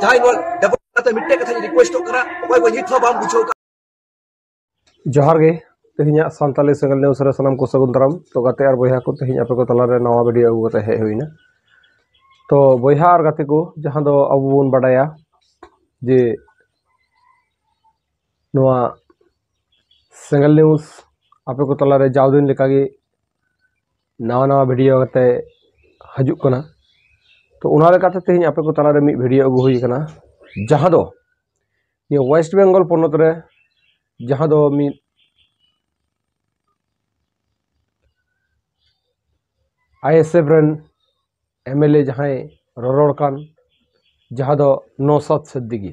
ᱡᱟᱦᱟᱸᱭ ᱰᱟᱵᱚᱞ ᱠᱟᱛᱮ ᱢᱤᱫᱴᱮᱡ ᱠᱟᱛᱷᱟᱧ ᱨᱤᱠᱩᱭᱮᱥᱴᱚᱜ ᱠᱟᱱᱟ ᱚᱠᱚᱭ ᱠᱚ ᱱᱤᱛ ᱦᱚᱸ ᱵᱟᱢ ᱵᱩᱡᱷᱟᱹᱣ ᱠᱟᱜ ᱡᱚᱦᱟᱨ ᱜᱮ ᱛᱮᱦᱮᱧᱟᱜ ᱥᱟᱱᱛᱟᱞᱤ ᱥᱮᱸᱜᱮᱞ ᱱᱤᱭᱩᱥ ᱨᱮ ᱥᱟᱱᱟᱢ ᱠᱚ ᱥᱟᱹᱜᱩᱱ ᱫᱟᱨᱟᱢ ᱛᱚ ᱜᱟᱛᱮ ᱟᱨ ᱵᱚᱭᱦᱟ ᱠᱚ ᱛᱮᱦᱮᱧ ᱟᱯᱮ ᱠᱚ ᱛᱟᱞᱟᱨᱮ ᱱᱟᱣᱟ ᱵᱷᱤᱰᱤᱭᱳ ᱟᱹᱜᱩ ᱠᱟᱛᱮ ᱦᱮᱡ ᱦᱩᱭᱱᱟ ᱛᱚ ᱵᱚᱭᱦᱟ ᱟᱨ ᱜᱟᱛᱮ ᱠᱚ ᱡᱟᱦᱟᱸ ᱫᱚ ᱟᱵᱚ ᱵᱚᱱ ᱵᱟᱰᱟᱭᱟ ᱡᱮ ᱱᱚᱣᱟ ᱥᱮᱸᱜᱮᱞ ᱱᱤᱭᱩᱥ ᱟᱯᱮ ᱠᱚ ᱛᱟᱞᱟᱨᱮ ᱡᱟᱣ ᱫᱤᱱ ᱞᱮᱠᱟᱜᱮ ᱱᱟᱣᱟ ᱱᱟᱣᱟ ᱵᱷᱤᱰᱤᱭᱳ ᱠᱟᱛᱮ ᱦᱤᱡᱩᱜ ᱠᱟᱱᱟ ᱛᱚ ᱚᱱᱟ ᱞᱮᱠᱟᱛᱮ ᱛᱮᱦᱮᱧ ᱟᱯᱮ ᱠᱚ ᱛᱟᱞᱟᱨᱮ ᱢᱤᱫ ᱵᱷᱤᱰᱤᱭᱳ ᱟᱹᱜᱩ ᱦᱩᱭ ᱠᱟᱱᱟ ᱡᱟᱦᱟᱸ ᱫᱚ ᱱᱤᱭᱟᱹ ᱳᱭᱮᱥᱴ ᱵᱮᱝᱜᱚᱞ ᱯᱚᱱᱚᱛ ᱨᱮ ᱡᱟᱦᱟᱸ ᱫᱚ ᱢᱤᱫ ᱟᱭᱮᱥᱮᱯ ᱨᱮᱱ ᱮᱢᱮᱞᱮ ᱡᱟᱦᱟᱸᱭ ᱨᱚᱨᱚᱲ ᱠᱟᱱ ᱡᱟᱦᱟᱸ ᱫᱚ ᱱᱚᱥᱟᱫ ᱥᱤᱫᱽᱫᱤᱜᱤ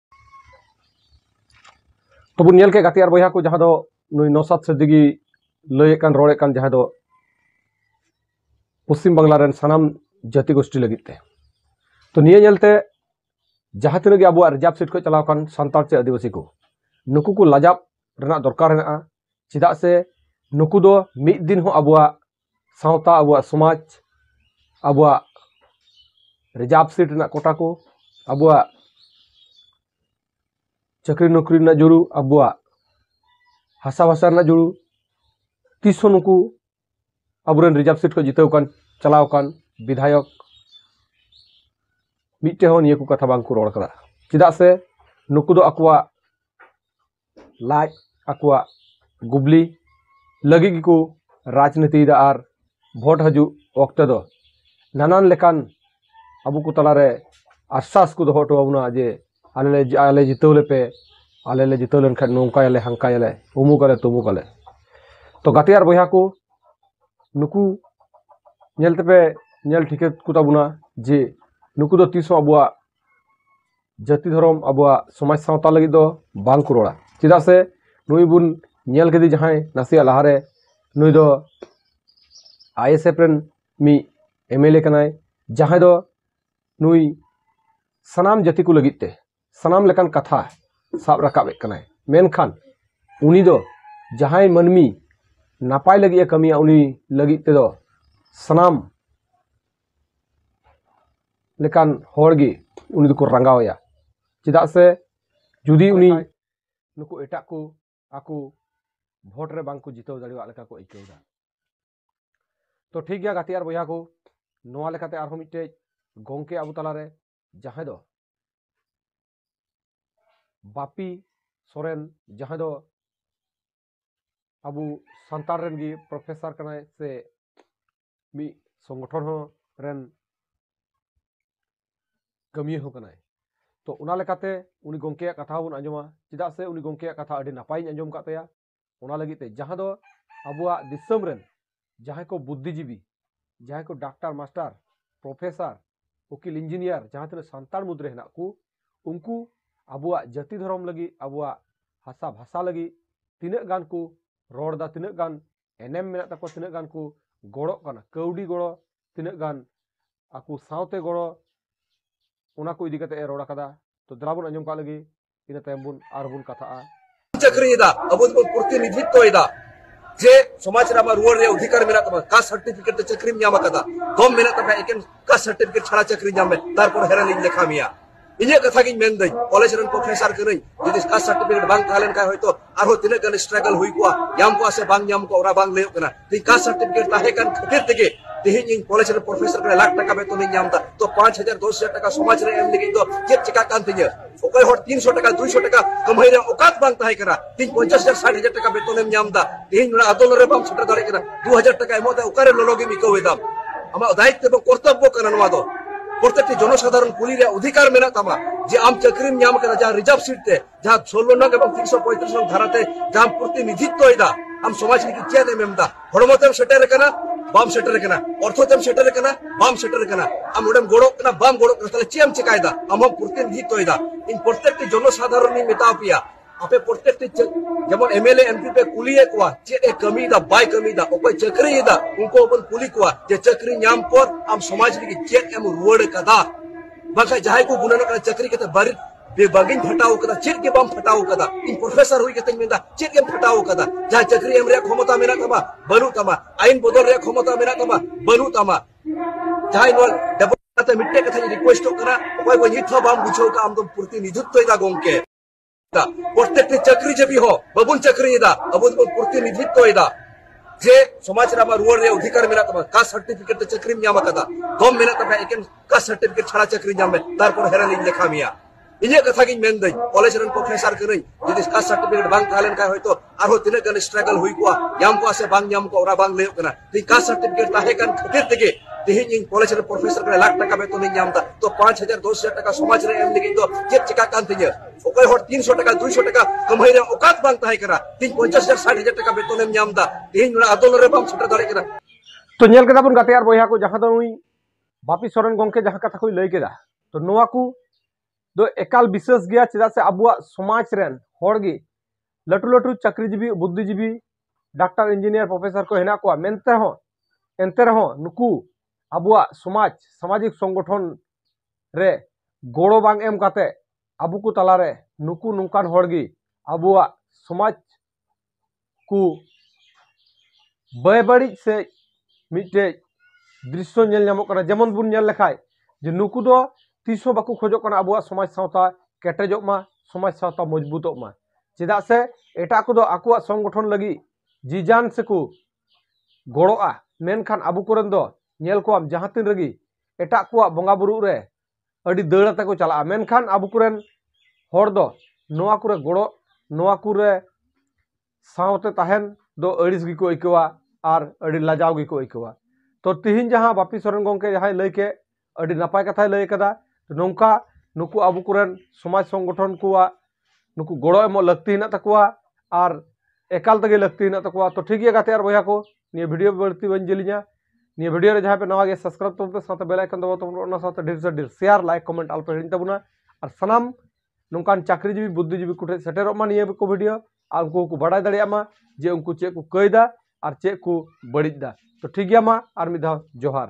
ᱛᱚᱵᱚᱱ ᱧᱮᱞ ᱠᱮᱫ ᱜᱟᱛᱮ ᱟᱨ ᱵᱚᱭᱦᱟ ᱠᱚ ᱡᱟᱦᱟᱸ ᱫᱚ ᱱᱩᱭ ᱱᱚᱥᱟᱫ ᱥᱤᱫᱫᱤᱜᱤ ᱞᱟᱹᱭᱮᱫ ᱠᱟᱱ ᱨᱚᱲᱮᱫ ᱠᱟᱱ ᱡᱟᱦᱟᱸ ᱫᱚ ᱯᱚᱥᱪᱤᱢ ᱵᱟᱝᱞᱟ ᱨᱮᱱ ᱥᱟᱱᱟᱢ ᱡᱟᱹᱛᱤ ᱜᱳᱥᱴᱤ ᱞᱟᱹᱜᱤᱫ ᱛᱮ ᱛᱚ ᱱᱤᱭᱟᱹ ᱧᱮᱞᱛᱮ ᱡᱟᱦᱟᱸ ᱛᱤᱱᱟᱹᱜ ᱜᱮ ᱟᱵᱚᱣᱟᱜ ᱨᱤᱡᱟᱨᱵᱷ ᱥᱤᱴ ᱠᱷᱚᱱ ᱪᱟᱞᱟᱣ ᱠᱟᱱ ᱥᱟᱱᱛᱟᱲ ᱥᱮ ᱟᱹᱫᱤᱵᱟᱹᱥᱤ ᱠᱚ ᱱᱩᱠᱩ ᱠᱚ ᱞᱟᱡᱟᱵ ᱨᱮᱱᱟᱜ ᱫᱚᱨᱠᱟᱨ ᱦᱮᱱᱟᱜᱼᱟ ᱪᱮᱫᱟᱜ ᱥᱮ ᱱᱩᱠᱩ ᱫᱚ ᱢᱤᱫ ᱫᱤᱱ ᱦᱚᱸ ᱟᱵᱚᱣᱟᱜ ᱥᱟᱶᱛᱟ ᱟᱵᱚᱣᱟᱜ ᱥᱚᱢᱟᱡᱽ ᱟᱵᱚᱣᱟᱜ ᱨᱤᱡᱟᱵᱽ ᱥᱤᱴ ᱨᱮᱱᱟᱜ ᱠᱳᱴᱟ ᱠᱚ ᱟᱵᱚᱣᱟᱜ ᱪᱟᱹᱠᱨᱤ ᱱᱚᱠᱨᱤ ᱨᱮᱱᱟᱜ ᱡᱩᱲᱩ ᱟᱵᱚᱣᱟᱜ ᱦᱟᱥᱟ ᱵᱷᱟᱥᱟ ᱨᱮᱱᱟᱜ ᱡᱩᱲᱩ ᱛᱤᱥ ᱦᱚᱸ ᱱᱩᱠᱩ ᱟᱵᱚ ᱨᱮᱱ ᱨᱤᱡᱟᱵᱽ ᱥᱤᱴ ᱠᱷᱚᱱ ᱡᱤᱛᱟᱹᱣ ᱟᱠᱟᱱ ᱪᱟᱞᱟᱣ ᱟᱠᱟᱱ ᱵᱤᱫᱷᱟᱭᱚᱠ ᱢᱤᱫᱴᱮᱱ ᱦᱚᱸ ᱱᱤᱭᱟᱹ ᱠᱚ ᱠᱟᱛᱷᱟ ᱵᱟᱝ ᱠᱚ ᱨᱚᱲ ᱟᱠᱟᱫᱟ ᱪᱮᱫᱟᱜ ᱥᱮ ᱱᱩᱠᱩ ᱫᱚ ᱟᱠᱚᱣᱟᱜ ᱞᱟᱡ ᱟᱠᱚᱣᱟᱜ ᱜᱩᱵᱽᱞᱤ ᱞᱟᱹᱜᱤᱫ ᱜᱮᱠᱚ ᱨᱟᱡᱽᱱᱤᱛᱤᱭᱮᱫᱟ ᱟᱨ ᱵᱷᱳᱴ ᱦᱤᱡᱩᱜ ᱚᱠᱛᱮ ᱫᱚ ᱱᱟᱱᱟᱱ ᱞᱮᱠᱟᱱ ᱟᱵᱚ ᱠᱚ ᱛᱟᱞᱟᱨᱮ ᱟᱥᱥᱟᱥ ᱠᱚ ᱫᱚᱦᱚ ᱦᱚᱴᱚ ᱟᱵᱚᱱᱟ ᱡᱮ ᱟᱞᱮ ᱞᱮ ᱟᱞᱮ ᱡᱤᱛᱟᱹᱣ ᱞᱮᱯᱮ ᱟᱞᱮ ᱞᱮ ᱡᱤᱛᱟᱹᱣ ᱞᱮᱱᱠᱷᱟᱱ ᱱᱚᱝᱠᱟᱭᱟᱞᱮ ᱦᱟᱱᱠᱟᱭᱟᱞᱮ ᱩᱢᱩᱠ ᱟᱞᱮ ᱛᱩᱢᱩᱠ ᱟᱞᱮ ᱛᱚ ᱜᱟᱛᱮ ᱟᱨ ᱵᱚᱭᱦᱟ ᱠᱚ ᱱᱩᱠᱩ ᱧᱮᱞ ᱛᱮᱯᱮ ᱧᱮᱞ ᱴᱷᱤᱠᱟᱹ ᱠᱚᱛᱟ ᱵᱚᱱᱟ ᱡᱮ ᱱᱩᱠᱩ ᱫᱚ ᱛᱤᱥ ᱦᱚᱸ ᱟᱵᱚᱣᱟᱜ ᱡᱟᱹᱛᱤ ᱫᱷᱚᱨᱚᱢ ᱟᱵᱚᱣᱟᱜ ᱥᱚᱢᱟᱡᱽ ᱥᱟᱶᱛᱟ ᱞᱟᱹᱜᱤᱫ ᱫᱚ ᱵᱟᱝ ᱠᱚ ᱨᱚᱲᱟ ᱪᱮᱫᱟᱜ ᱥᱮ ᱱᱩᱭ ᱵᱚᱱ ᱧᱮᱞ ᱠᱮᱫᱮ ᱡᱟᱦᱟᱸᱭ ᱱᱟᱥᱮᱭᱟᱜ ᱞᱟᱦᱟᱨᱮ ᱱᱩᱭ ᱫᱚ ᱟᱭ ᱮᱥ ᱮᱯᱷ ᱨᱮᱱ ᱢᱤᱫ ᱮᱢ ᱮᱞ ᱮ ᱠᱟᱱᱟᱭ ᱡᱟᱦᱟᱸᱭ ᱫᱚ ᱱᱩᱭ ᱥᱟᱱᱟᱢ ᱡᱟᱹᱛᱤ ᱠᱚ ᱞᱟᱹᱜᱤᱫ ᱛᱮ ᱥᱟᱱᱟᱢ ᱞᱮᱠᱟᱱ ᱠᱟᱛᱷᱟ ᱥᱟᱵ ᱨᱟᱠᱟᱵᱮᱫ ᱠᱟᱱᱟᱭ ᱢᱮᱱᱠᱷᱟᱱ ᱩᱱᱤ ᱫᱚ ᱡᱟᱦᱟᱸᱭ ᱢᱟᱹᱱᱢᱤ ᱱᱟᱯᱟᱭ ᱞᱟᱹᱜᱤᱫ ᱮ ᱠᱟᱹᱢᱤᱭᱟ ᱩᱱᱤ ᱞᱟᱹᱜᱤᱫ ᱛᱮᱫᱚ ᱥᱟᱱᱟᱢ ᱞᱮᱠᱟᱱ ᱦᱚᱲ ᱜᱮ ᱩᱱᱤ ᱫᱚᱠᱚ ᱨᱟᱸᱜᱟᱣ ᱮᱭᱟ ᱪᱮᱫᱟᱜ ᱥᱮ ᱡᱩᱫᱤ ᱩᱱᱤ ᱱᱩᱠᱩ ᱮᱴᱟᱜ ᱠᱚ ᱟᱠᱚ ᱵᱷᱳᱴ ᱨᱮ ᱵᱟᱝᱠᱚ ᱡᱤᱛᱟᱹᱣ ᱫᱟᱲᱮᱭᱟᱜ ᱞᱮᱠᱟ ᱠᱚ ᱟᱹᱭᱠᱟᱹᱣ ᱮᱫᱟ ᱛᱚ ᱴᱷᱤᱠ ᱜᱮᱭᱟ ᱜᱟᱛᱮ ᱟᱨ ᱵᱚᱭᱦᱟ ᱠᱚ ᱱᱚᱣᱟ ᱞᱮᱠᱟᱛᱮ ᱟᱨᱦᱚᱸ ᱢᱤᱫᱴᱮᱡ ᱜᱚᱝᱠᱮ ᱟᱵᱚ ᱛᱟᱞᱟᱨᱮ ᱡᱟᱦᱟᱸᱭ ᱫᱚ ᱵᱟᱯᱤ ᱥᱚᱨᱮᱱ ᱡᱟᱦᱟᱸᱭ ᱫᱚ ᱟᱵᱚ ᱥᱟᱱᱛᱟᱲ ᱨᱮᱱ ᱜᱮ ᱯᱨᱚᱯᱷᱮᱥᱟᱨ ᱠᱟᱱᱟᱭ ᱥᱮ ᱢᱤᱫ ᱥᱚᱝᱜᱚᱴᱷᱚᱱ ᱦᱚᱸ ᱨᱮᱱ ᱠᱟᱹᱢᱤᱭᱟᱹ ᱦᱚᱸ ᱠᱟᱱᱟᱭ ᱛᱚ ᱚᱱᱟ ᱞᱮᱠᱟᱛᱮ ᱩᱱᱤ ᱜᱚᱢᱠᱮᱭᱟᱜ ᱠᱟᱛᱷᱟ ᱦᱚᱸᱵᱚᱱ ᱟᱸᱡᱚᱢᱟ ᱪᱮᱫᱟᱜ ᱥᱮ ᱩᱱᱤ ᱜᱚᱢᱠᱮᱭᱟᱜ ᱠᱟᱛᱷᱟ ᱟᱹᱰᱤ ᱱᱟᱯᱟᱭᱤᱧ ᱟᱸᱡᱚᱢ ᱠᱟᱜ ᱛᱟᱭᱟ ᱚᱱᱟ ᱞᱟᱹᱜᱤᱫ ᱛᱮ ᱡᱟᱦᱟᱸ ᱫᱚ ᱟᱵᱚᱣᱟᱜ ᱫᱤᱥᱚᱢ ᱨᱮᱱ ᱡᱟᱦᱟᱸᱭ ᱠᱚ ᱵᱩᱫᱽᱫᱷᱤ ᱡᱤᱵᱤ ᱡᱟᱦᱟᱸᱭ ᱠᱚ ᱰᱟᱠᱴᱟᱨ ᱢᱟᱥᱴᱟᱨ ᱯᱨᱚᱯᱷᱮᱥᱟᱨ ᱩᱠᱤᱞ ᱤᱧᱡᱤᱱᱤᱭᱟᱨ ᱡᱟᱦᱟᱸ ᱛᱤᱱᱟᱹᱜ ᱥᱟᱱᱛᱟᱲ ᱢᱩᱫᱽᱨᱮ ᱦᱮᱱᱟᱜ ᱠᱚ ᱩᱱᱠᱩ ᱟᱵᱚᱣᱟᱜ ᱡᱟᱹᱛᱤ ᱫᱷᱚᱨᱚᱢ ᱞᱟᱹᱜᱤᱫ ᱟᱵᱚᱣᱟᱜ ᱦᱟᱥᱟ ᱵᱷᱟᱥᱟ ᱞᱟᱹᱜᱤᱫ ᱛᱤᱱᱟᱹᱜ ᱜᱟᱱ ᱠᱚ ᱨᱚᱲ ᱮᱫᱟ ᱛᱤᱱᱟᱹᱜ ᱜᱟᱱ ᱮᱱᱮᱢ ᱢᱮᱱᱟᱜ ᱛᱟᱠᱚᱣᱟ ᱛᱤᱱᱟᱹᱜ ᱜᱟᱱ ᱠᱚ ᱜᱚᱲᱚᱜ ᱠᱟᱱᱟ ᱠᱟᱹᱣᱰᱤ ᱜᱚᱲᱚ ᱛᱤᱱᱟᱹᱜ ᱜᱟᱱ ᱟᱠᱚ ᱥᱟᱶᱛᱮ ᱜᱚᱲᱚ ᱚᱱᱟ ᱠᱚ ᱤᱫᱤ ᱠᱟᱛᱮ ᱮ ᱨᱚᱲ ᱟᱠᱟᱫᱟ ᱛᱚ ᱫᱮᱞᱟ ᱵᱚᱱ ᱟᱸᱡᱚᱢ ᱠᱟᱜ ᱞᱟᱹᱜᱤᱫ ᱤᱱᱟᱹ ᱛᱟᱭᱚᱢ ᱵᱚᱱ ᱟᱨ ᱵᱚᱱ ᱠᱟᱛᱷᱟᱜᱼᱟ ᱪᱟᱹᱠᱨᱤᱭᱮᱫᱟ ᱟᱵᱚ ᱫᱚᱵᱚᱱ ᱯᱨᱚᱛᱤᱱᱤᱫᱷᱤᱛᱛᱚᱭᱮᱫᱟ ᱡᱮ ᱥᱚᱢᱟᱡᱽ ᱨᱮ ᱟᱢᱟᱜ ᱨᱩᱣᱟᱹᱲ ᱨᱮᱭᱟᱜ ᱚᱫᱷᱤᱠᱟᱨ ᱢᱮᱱᱟᱜ ᱛᱟᱢᱟ ᱠᱟᱥᱴ ᱥᱟᱨᱴᱤᱯᱷᱤᱠᱮᱴ ᱛᱮ ᱪᱟᱹᱠᱨᱤᱢ ᱧᱟᱢ ᱟᱠᱟᱫᱟ ᱫᱚᱢ ᱢᱮᱱᱟᱜ ᱛᱟᱢᱟ ᱮᱠᱮᱱ ᱠᱟᱥᱴ ᱥᱟᱨᱴᱤᱯᱷᱤᱠᱮᱴ ᱪᱷᱟᱲᱟ ᱪᱟᱹᱠᱨᱤ ᱧᱟᱢ ᱢᱮ ᱛᱟᱨᱯᱚᱨ ᱦᱮᱨᱮᱞ ᱤᱧ ᱞᱮᱠᱷᱟ ᱢᱮᱭᱟ ᱤᱧᱟᱹᱜ ᱠᱟᱛᱷᱟ ᱜᱤᱧ ᱢᱮᱱᱫᱟᱹᱧ ᱠᱚᱞᱮᱡᱽ ᱨᱮᱱ ᱯᱨᱚᱯᱷᱮᱥᱟᱨ ᱠᱟᱹᱱᱟᱹᱧ ᱡᱩᱫᱤ ᱠᱟᱥᱴ ᱥᱟᱨᱴᱤᱯᱷᱤᱠᱮᱴ ᱵᱟᱝ ᱛᱟᱦᱮᱸ ᱞᱮᱱᱠᱷᱟᱱ ᱦᱚᱭᱛᱳ ᱟᱨᱦᱚᱸ ᱛᱤᱱᱟᱹᱜ ᱜᱟᱱ ᱥᱴᱨᱟᱜᱚᱞ ᱦᱩᱭ ᱠᱚᱜᱼᱟ ᱧᱟᱢ ᱠᱚᱜᱼᱟ ᱥᱮ ᱵᱟᱝ ᱧᱟᱢ ᱠᱚᱜᱼᱟ ᱚᱱᱟ ᱵᱟᱝ ᱞᱟᱹᱭᱚᱜ ᱠᱟᱱᱟ ᱛᱮᱦᱮᱧ ᱠᱟᱥᱴ ᱥᱟᱨᱴᱤᱯᱷᱤᱠᱮᱴ ᱛᱟᱦᱮᱸ ᱠᱟᱱ ᱠᱷᱟᱹᱛᱤᱨ ᱛᱮᱜᱮ ᱛᱮᱦᱮᱧ ᱤᱧ ᱠᱚᱞᱮᱡᱽ ᱨᱮ ᱯᱨᱚᱯᱷᱮᱥᱚᱨ ᱠᱟᱱᱟ ᱞᱟᱠᱷ ᱴᱟᱠᱟ ᱵᱮᱛᱚᱱ ᱤᱧ ᱧᱟᱢ ᱮᱫᱟ ᱛᱚ ᱯᱟᱸᱪ ᱦᱟᱡᱟᱨ ᱫᱚᱥ ᱦᱟᱡᱟᱨ ᱴᱟᱠᱟ ᱥᱚᱢᱟᱡᱽ ᱨᱮ ᱮᱢ ᱞᱟᱹᱜᱤᱫ ᱫᱚ ᱪᱮᱫ ᱪᱮᱠᱟ ᱠᱟᱱ ᱛᱤᱧᱟᱹ ᱚᱠᱚᱭ ᱦᱚᱲ ᱛᱤᱱ ᱥᱚ ᱴᱟᱠᱟ ᱫᱩᱭ ᱥᱚ ᱴᱟᱠᱟ ᱠᱟᱹᱢᱦᱟᱹᱭ ᱨᱮ ᱚᱠᱟᱛ ᱵᱟᱝ ᱛᱟᱦᱮᱸ ᱠᱟᱱᱟ ᱛᱮᱦᱮᱧ ᱯᱚᱧᱪᱟᱥ ᱦᱟᱡᱟᱨ ᱥᱟᱴ ᱦᱟᱡᱟᱨ ᱴᱟᱠᱟ ᱵᱮᱛᱚᱱ ᱮᱢ ᱧᱟᱢ ᱮᱫᱟ ᱛᱮᱦᱮᱧ ᱱᱚᱣᱟ ᱟᱫᱚᱞᱚᱱ ᱨᱮ ᱵᱟᱢ ᱥᱮᱴᱮᱨ ᱫᱟᱲᱮᱭᱟᱜ ᱠᱟᱱᱟ ᱫᱩ ᱦᱟᱡᱟᱨ ᱴᱟᱠᱟ ᱮᱢᱚᱜ ᱫᱟ ᱚᱠᱟᱨᱮ ᱞᱚᱞᱚ ᱜᱮᱢ ᱟᱹᱭᱠᱟᱹᱣ ᱮᱫᱟᱢ ᱟᱢᱟᱜ ᱫᱟᱭᱤᱛᱛᱚ ᱮᱵᱚᱝ ᱠᱚᱨᱛᱚᱵᱽᱵᱚ ᱠᱟᱱᱟ ᱱᱚᱣᱟ ᱫᱚ ᱯᱨᱚᱛᱮᱠᱴᱤ ᱡᱚᱱᱚᱥᱟᱫᱷᱟᱨᱚᱱ ᱠᱩᱞᱤ ᱨᱮᱭᱟᱜ ᱚᱫᱷᱤᱠᱟᱨ ᱢᱮᱱᱟᱜ ᱛᱟᱢᱟ ᱡᱮ ᱟᱢ ᱪᱟᱹᱠᱨᱤᱢ ᱧᱟᱢ ᱠᱟᱫᱟ ᱡᱟᱦᱟᱸ ᱨᱤᱡᱟᱨᱵᱷ ᱥᱤᱴ ᱛᱮ ᱡᱟᱦᱟᱸ ᱥᱳᱞᱳ ᱱᱚᱝ ᱮᱵᱚᱝ ᱛᱤᱱᱥᱚ ᱯᱚᱸᱭᱛᱨᱤᱥ ᱱᱚᱝ ᱫᱷᱟᱨᱟᱛᱮ ᱡᱟᱦᱟᱸ ᱯᱨᱚᱛᱤᱱᱤᱫᱷᱤᱛᱛᱚ ᱮᱫᱟ ᱟᱢ ᱥᱚᱢᱟᱡᱽ ᱞᱟᱹᱜᱤᱫ ᱪᱮᱫ ᱮᱢ ᱮᱢᱫᱟ ᱦᱚᱲᱢᱚ ᱛᱮᱢ ᱥᱮᱴᱮᱨ ᱟᱠᱟᱱᱟ ᱵᱟᱢ ᱥᱮᱴᱮᱨ ᱟᱠᱟᱱᱟ ᱚᱨᱛᱷᱚ ᱛᱮᱢ ᱥᱮᱴᱮᱨ ᱟᱠᱟᱱᱟ ᱵᱟᱢ ᱥᱮᱴᱮᱨ ᱟᱠᱟᱱᱟ ᱟᱢ ᱚᱸᱰᱮᱢ ᱜᱚᱲᱚᱜ ᱠᱟᱱᱟ ᱵᱟᱢ ᱜᱚᱲᱚᱜ ᱠᱟᱱᱟ ᱛᱟᱦᱞᱮ ᱪᱮᱫ ᱮᱢ ᱪᱮᱠᱟᱭᱮᱫᱟ ᱟᱢ ᱦᱚᱸ ᱯᱨᱚᱛᱤᱱᱤᱫᱷᱤᱛᱛᱚ ᱮᱫᱟ ᱤᱧ ᱯᱨᱚᱛᱮᱠᱴᱤ ᱡᱚᱱᱚ ᱥᱟᱫᱷᱟᱨᱚᱱ ᱤᱧ ᱢᱮᱛᱟᱣ ᱯᱮᱭᱟ ᱟᱯᱮ ᱯᱨᱚᱛᱮᱠᱴᱤ ᱡᱮᱢᱚᱱ ᱮᱢᱮᱞᱮ ᱮᱢᱯᱤ ᱯᱮ ᱠᱩᱞᱤᱭᱮᱫ ᱠᱚᱣᱟ ᱪᱮᱫ ᱮ ᱠᱟᱹᱢᱤᱭᱮᱫᱟ ᱵᱟᱭ ᱠᱟᱹᱢᱤᱭᱮᱫᱟ ᱚᱠᱚᱭ ᱪᱟᱹᱠᱨᱤᱭᱮᱫᱟ ᱩᱱᱠᱩ ᱦᱚᱸᱵᱚᱱ ᱠᱩᱞᱤ ᱠᱚᱣᱟ ᱡᱮ ᱪᱟᱹᱠᱨᱤ ᱧᱟᱢ ᱯᱚᱨ ᱟᱢ ᱥᱚᱢᱟᱡᱽ ᱞᱟᱹᱜᱤᱫ ᱪᱮᱫ ᱮᱢ ᱨᱩᱣᱟᱹᱲ ᱟᱠᱟᱫᱟ ᱵᱟᱝᱠᱷᱟᱱ ᱡᱟᱦᱟᱸᱭ ᱠᱚ ᱜᱩᱱᱟᱹᱱᱚᱜ ᱠᱟᱱᱟ ᱪᱟᱹᱠᱨᱤ ᱠᱟᱛᱮ ᱵᱟᱹᱲᱤᱡ ᱵᱮ ᱵᱟᱜᱤᱧ ᱯᱷᱟᱴᱟᱣ ᱠᱟᱫᱟ ᱪᱮᱫ ᱜᱮ ᱵᱟᱢ ᱯᱷᱟᱴᱟᱣ ᱠᱟᱫᱟ ᱤᱧ ᱯᱨᱚᱯᱷᱮᱥᱚᱨ ᱦᱩᱭ ᱠᱟᱛᱮᱧ ᱢᱮᱱᱫᱟ ᱪᱮᱫ ᱜᱮᱢ ᱯᱷᱟᱴᱟᱣ ᱠᱟᱫᱟ ᱡᱟᱦᱟᱸ ᱪᱟᱹᱠᱨᱤ ᱮᱢ ᱨᱮᱭᱟᱜ ᱠᱷᱚᱢᱚᱛᱟ ᱢᱮᱱᱟᱜ ᱛᱟᱢᱟ ᱵᱟᱹᱱᱩᱜ ᱛᱟᱢᱟ ᱟᱭᱤᱱ ᱵᱚᱫᱚᱞ ᱨᱮᱭᱟᱜ ᱠᱷᱚᱢᱚᱛᱟ ᱢᱮᱱᱟᱜ ᱛᱟᱢᱟ ᱵᱟᱹᱱᱩᱜ ᱛᱟᱢᱟ ᱡᱟᱦᱟᱸᱭ ᱱᱚᱣᱟ ᱰᱮᱵᱚᱞ ᱠᱟᱛᱮ ᱢᱤᱫᱴᱮᱡ ᱠᱟᱛᱷᱟᱧ ᱨᱤᱠᱣᱮᱥᱴᱚᱜ ᱠᱟᱱᱟ ᱚᱠᱚᱭ ᱠᱚ ᱱᱤᱛ ᱦᱚᱸ ᱵᱟᱢ ᱵᱩᱡᱷᱟᱹᱣ ᱠᱟᱜ ᱟᱢ ᱫᱚᱢ ᱯᱨᱚᱛᱤᱱᱤᱫᱷᱤᱛᱛᱚᱭᱮᱫᱟ ᱜᱚᱝᱠᱮ ᱯᱨᱚᱛᱮᱠᱴᱤ ᱪᱟᱹᱠᱨᱤᱡᱤᱵᱤ ᱦᱚᱸ ᱵᱟᱵᱚᱱ ᱪᱟᱹᱠᱨᱤᱭᱮᱫᱟ ᱟᱵᱚ ᱫᱚᱵᱚᱱ ᱯᱨᱚᱛᱤᱱᱤᱫᱷᱤᱛᱛᱚᱭᱮᱫᱟ ᱡᱮ ᱥᱚᱢᱟᱡᱽ ᱨᱮ ᱟᱢᱟᱜ ᱨᱩᱣᱟᱹᱲ ᱨᱮᱭᱟᱜ ᱚᱫᱷᱤᱠᱟᱨ ᱢᱮᱱᱟᱜ ᱛᱟᱢᱟ ᱠᱟᱥᱴ ᱥᱟᱨᱴᱤᱯᱷᱤᱠᱮᱴ ᱛᱮ ᱪᱟᱹᱠᱨᱤᱢ ᱧᱟᱢ ᱟᱠᱟᱫᱟ ᱫᱚᱢ ᱢᱮᱱᱟᱜ ᱛᱟᱢᱟ ᱮᱠᱮᱱ ᱚᱠᱟ ᱥᱟᱨᱴᱤᱯᱷᱤᱠᱮᱴ ᱪᱷᱟᱲᱟ ᱪᱟᱹᱠᱨᱤ ᱧᱟᱢ ᱢᱮ ᱛᱟᱨᱯᱚᱨ ᱦᱮᱨᱟᱱᱤᱧ ᱞᱮᱠᱷᱟ ᱢᱮᱭᱟ ᱤᱧᱟᱹᱜ ᱠᱟᱛᱷᱟ ᱜᱤᱧ ᱢᱮᱱ ᱫᱟᱹᱧ ᱠᱚᱞᱮᱡᱽ ᱨᱮᱱ ᱯᱨᱚᱯᱷᱮᱥᱟᱨ ᱠᱟᱹᱱᱟᱹᱧ ᱡᱩᱫᱤ ᱠᱟᱥᱴ ᱥᱟᱨᱴᱤᱯᱷᱤᱠᱮᱴ ᱵᱟᱝ ᱛᱟᱦᱮᱸ ᱞᱮᱱ ᱠᱷᱟᱱ ᱦᱚᱭᱛᱚ ᱟᱨᱦᱚᱸ ᱛᱤᱱᱟᱹᱜ ᱜᱟᱱ ᱥᱴᱨᱟᱜᱚᱞ ᱦᱩᱭ ᱠᱚᱜᱼᱟ ᱧᱟᱢ ᱠᱚᱜᱼᱟ ᱥᱮ ᱵᱟᱝ ᱧᱟᱢ ᱠᱚᱜᱼᱟ ᱚᱱᱟ ᱵᱟᱝ ᱞᱟᱹᱭᱚᱜ ᱠᱟᱱᱟ ᱛᱮᱦᱮᱧ ᱠᱟᱥᱴ ᱥᱟᱨᱴᱤᱯᱷᱤᱠᱮᱴ ᱛᱟᱦᱮᱸ ᱠᱟᱱ ᱠᱷᱟᱹᱛᱤᱨ ᱛᱮᱜᱮ ᱛᱮᱦᱮᱧ ᱤᱧ ᱠᱚᱞᱮᱡᱽ ᱨᱮ ᱯᱨᱚᱯᱷᱮᱥᱟᱨ ᱠᱟᱱᱟ ᱞᱟᱠᱷ ᱴᱟᱠᱟ ᱵᱮᱛᱚᱱᱤᱧ ᱧᱟᱢ ᱮᱫᱟ ᱛᱚ ᱯᱟᱸᱪ ᱦᱟᱡᱟᱨ ᱫᱚᱥ ᱦᱟᱡᱟᱨ ᱴᱟᱠᱟ ᱥᱚᱢᱟᱡᱽ ᱨᱮ ᱮᱢ ᱞᱟᱹᱜᱤᱫ ᱫᱚ ᱪᱮᱫ ᱪᱮᱠᱟ ᱠᱟᱱ ᱛᱤᱧᱟᱹ ᱚᱠᱚᱭ ᱦᱚᱲ ᱛᱤᱱ ᱥᱚ ᱴᱟᱠᱟ ᱫᱩᱭ ᱥᱚ ᱴᱟᱠᱟ ᱠᱟᱹᱢᱦᱟᱹᱭ ᱨᱮ ᱚᱠᱟᱛ ᱵᱟᱝ ᱛᱟᱦᱮᱸ ᱠᱟᱱᱟ ᱛᱮᱦᱮᱧ ᱯᱚᱧᱪᱟᱥ ᱦᱟᱡᱟᱨ ᱥᱟᱴ ᱦᱟᱡᱟᱨ ᱴᱟᱠᱟ ᱵᱮᱛᱚᱱᱮᱢ ᱧᱟᱢ ᱮᱫᱟ ᱛᱮᱦᱮᱧ ᱱᱚᱣᱟ ᱟᱫᱚᱞ ᱨᱮ ᱵᱟᱢ ᱥᱮᱴᱮᱨ ᱫᱟᱲᱮᱭᱟᱜ ᱠᱟᱱᱟ ᱛᱚ ᱧᱮᱞ ᱠᱮᱫᱟ ᱵᱚᱱ ᱜᱟᱛᱮ ᱟᱨ ᱵᱚᱭᱦᱟ ᱠᱚ ᱡᱟᱦᱟᱸ ᱫᱚ ᱱᱩᱭ ᱵᱟᱯᱤ ᱥᱚᱨᱮᱱ ᱜᱚᱢᱠᱮ ᱡᱟᱦᱟᱸ ᱠᱟᱛᱷᱟ ᱠᱚᱭ ᱞᱟᱹᱭ ᱠᱮᱫᱟ ᱛᱚ ᱱᱚᱣᱟ ᱠᱚ ᱫᱚ ᱮᱠᱟᱞ ᱵᱤᱥᱟᱹᱥ ᱜᱮᱭᱟ ᱪᱮᱫᱟᱜ ᱥᱮ ᱟᱵᱚᱣᱟᱜ ᱥᱚᱢᱟᱡᱽ ᱨᱮᱱ ᱦᱚᱲ ᱜᱮ ᱞᱟᱹᱴᱩ ᱞᱟᱹᱴᱩ ᱪᱟᱹᱠᱨᱤ ᱡᱤᱵᱤ ᱵᱩᱫᱽᱫᱷᱤ ᱡᱤᱵᱤ ᱰᱟᱠᱴᱟᱨ ᱤᱧᱡᱤᱱᱤᱭᱟᱨ ᱯᱨᱚᱯᱷᱮᱥᱟᱨ ᱠᱚ ᱦᱮᱱᱟᱜ ᱠᱚᱣᱟ ᱢᱮᱱᱛᱮ ᱦᱚᱸ ᱮᱱᱛᱮ ᱨᱮᱦᱚᱸ ᱱᱩᱠᱩ ᱟᱵᱚᱣᱟᱜ ᱥᱚᱢᱟᱡᱽ ᱥᱟᱢᱟᱡᱤᱠ ᱥᱚᱝᱜᱚᱴᱷᱚᱱ ᱨᱮ ᱜᱚᱲᱚ ᱵᱟᱝ ᱮᱢ ᱠᱟᱛᱮ ᱟᱵᱚ ᱠᱚ ᱛᱟᱞᱟᱨᱮ ᱱᱩᱠᱩ ᱱᱚᱝᱠᱟᱱ ᱦᱚᱲ ᱜᱮ ᱟᱵᱚᱣᱟᱜ ᱥᱚᱢᱟᱡᱽ ᱠᱚ ᱵᱮᱼᱵᱟᱹᱲᱤᱡ ᱥᱮᱡ ᱢᱤᱫᱴᱮᱡ ᱫᱨᱤᱥᱥᱚ ᱧᱮᱞ ᱧᱟᱢᱚᱜ ᱠᱟᱱᱟ ᱡᱮᱢᱚᱱ ᱵᱚᱱ ᱧᱮᱞ ᱞᱮᱠᱷᱟᱡ ᱡᱮ ᱱᱩᱠᱩ ᱫᱚ ᱛᱤᱥ ᱦᱚᱸ ᱵᱟᱠᱚ ᱠᱷᱚᱡᱚᱜ ᱠᱟᱱᱟ ᱟᱵᱚᱣᱟᱜ ᱥᱚᱢᱟᱡᱽ ᱥᱟᱶᱛᱟ ᱠᱮᱴᱮᱡᱚᱜ ᱢᱟ ᱥᱚᱢᱟᱡᱽ ᱥᱟᱶᱛᱟ ᱢᱚᱡᱽᱵᱩᱛᱚᱜ ᱢᱟ ᱪᱮᱫᱟᱜ ᱥᱮ ᱮᱴᱟᱜ ᱠᱚᱫᱚ ᱟᱠᱚᱣᱟᱜ ᱥᱚᱝᱜᱚᱴᱷᱚᱱ ᱞᱟᱹᱜᱤᱫ ᱡᱤ ᱡᱟᱱ ᱥᱮᱠᱚ ᱜᱚᱲᱚᱜᱼᱟ ᱢᱮᱱᱠᱷᱟᱱ ᱟᱵᱚ ᱠᱚᱨᱮᱱ ᱫᱚ ᱧᱮᱞ ᱠᱚᱣᱟᱢ ᱡᱟᱦᱟᱸ ᱛᱤᱱ ᱨᱮᱜᱮ ᱮᱴᱟᱜ ᱠᱚᱣᱟᱜ ᱵᱚᱸᱜᱟᱼᱵᱩᱨᱩᱜ ᱨᱮ ᱟᱹᱰᱤ ᱫᱟᱹᱲ ᱟᱛᱮᱫ ᱠᱚ ᱪᱟᱞᱟᱜᱼᱟ ᱢᱮᱱᱠᱷᱟᱱ ᱟᱵᱚ ᱠᱚᱨᱮᱱ ᱦᱚᱲ ᱫᱚ ᱱᱚᱣᱟ ᱠᱚᱨᱮ ᱜᱚᱲᱚ ᱱᱚᱣᱟ ᱠᱚᱨᱮ ᱥᱟᱶᱛᱮ ᱛᱟᱦᱮᱱ ᱫᱚ ᱟᱹᱲᱤᱥ ᱜᱮᱠᱚ ᱟᱹᱭᱠᱟᱹᱣᱟ ᱟᱨ ᱟᱹᱰᱤ ᱞᱟᱡᱟᱣ ᱜᱮᱠᱚ ᱟᱹᱭᱠᱟᱹᱣᱟ ᱛᱚ ᱛᱤᱦᱤᱧ ᱡᱟᱦᱟᱸ ᱵᱟᱯᱤ ᱥᱚᱨᱮᱱ ᱜᱚᱢᱠᱮ ᱡᱟᱦᱟᱸᱭ ᱞᱟᱹᱭ ᱠᱮᱫ ᱟᱹᱰᱤ ᱱᱟᱯᱟᱭ ᱠᱟᱛᱷᱟᱭ ᱞᱟᱹᱭ ᱠᱟᱫᱟ ᱱᱚᱝᱠᱟ ᱱᱩᱠᱩ ᱟᱵᱚ ᱠᱚᱨᱮᱱ ᱥᱚᱢᱟᱡᱽ ᱥᱚᱝᱜᱚᱴᱷᱚᱱ ᱠᱚᱣᱟᱜ ᱱᱩᱠᱩ ᱜᱚᱲᱚ ᱮᱢᱚᱜ ᱞᱟᱹᱠᱛᱤ ᱦᱮᱱᱟᱜ ᱛᱟᱠᱚᱣᱟ ᱟᱨ ᱮᱠᱟᱞ ᱛᱮᱜᱮ ᱞᱟᱹᱠᱛᱤ ᱦᱮᱱᱟᱜ ᱛᱟᱠᱚᱣᱟ ᱛᱚ ᱴᱷᱤᱠ ᱜᱮᱭᱟ ᱜᱟᱛᱮ ᱟᱨ ᱵᱚᱭᱦᱟ ᱠᱚ ᱱᱤᱭᱟᱹ ᱵᱷᱤᱰᱤᱭᱳ ᱵᱟᱹᱲᱛᱤ ᱵᱟᱹᱧ ᱡᱮᱞᱤᱧᱟ ᱱᱤᱭᱟᱹ ᱵᱷᱤᱰᱤᱭᱳ ᱨᱮ ᱡᱟᱦᱟᱸᱭ ᱯᱮ ᱱᱟᱣᱟ ᱜᱮᱭᱟ ᱥᱟᱵᱥᱠᱨᱟᱭᱤᱵ ᱛᱟᱵᱚᱱ ᱯᱮ ᱥᱟᱶᱛᱮ ᱵᱮᱞ ᱟᱭᱠᱚᱱ ᱫᱟᱵᱟᱣ ᱛᱟᱵᱚᱱ ᱯᱮ ᱚᱱᱟ ᱥᱟᱶᱛᱮ ᱰᱷᱮᱨ ᱥᱮ ᱰᱷᱮᱨ ᱥᱮᱭᱟᱨ ᱞᱟᱭᱤᱠ ᱠᱚᱢᱮᱱᱴ ᱟᱞᱚᱯᱮ ᱦᱤᱲᱤᱧ ᱛᱟᱵᱚᱱᱟ ᱟᱨ ᱥᱟᱱᱟᱢ ᱱᱚᱝᱠᱟᱱ ᱪᱟᱹᱠᱨᱤᱡᱤᱵᱤ ᱵᱩᱫᱽᱫᱷᱤᱡᱤᱵᱤ ᱠᱚᱴᱷᱮᱱ ᱥᱮᱴᱮᱨᱚᱜ ᱢᱟ ᱱᱤᱭᱟᱹ ᱠᱚ ᱵᱷᱤᱰᱤᱭᱳ ᱟᱨ ᱩᱱᱠᱩ ᱦᱚᱸᱠᱚ ᱵᱟᱰᱟᱭ ᱫᱟᱲᱮᱭᱟᱜ ᱢᱟ ᱡᱮ ᱩᱱᱠᱩ ᱪᱮᱫ ᱠᱚ ᱠᱟᱹᱭᱫᱟ ᱟᱨ ᱪᱮᱫ ᱠᱚ ᱵᱟᱹᱲᱤᱡ ᱫᱟ ᱛᱚ ᱴᱷᱤᱠ ᱜᱮᱭᱟ ᱢᱟ ᱟᱨ ᱢᱤᱫ ᱫᱷᱟᱣ ᱡᱚᱦᱟᱨ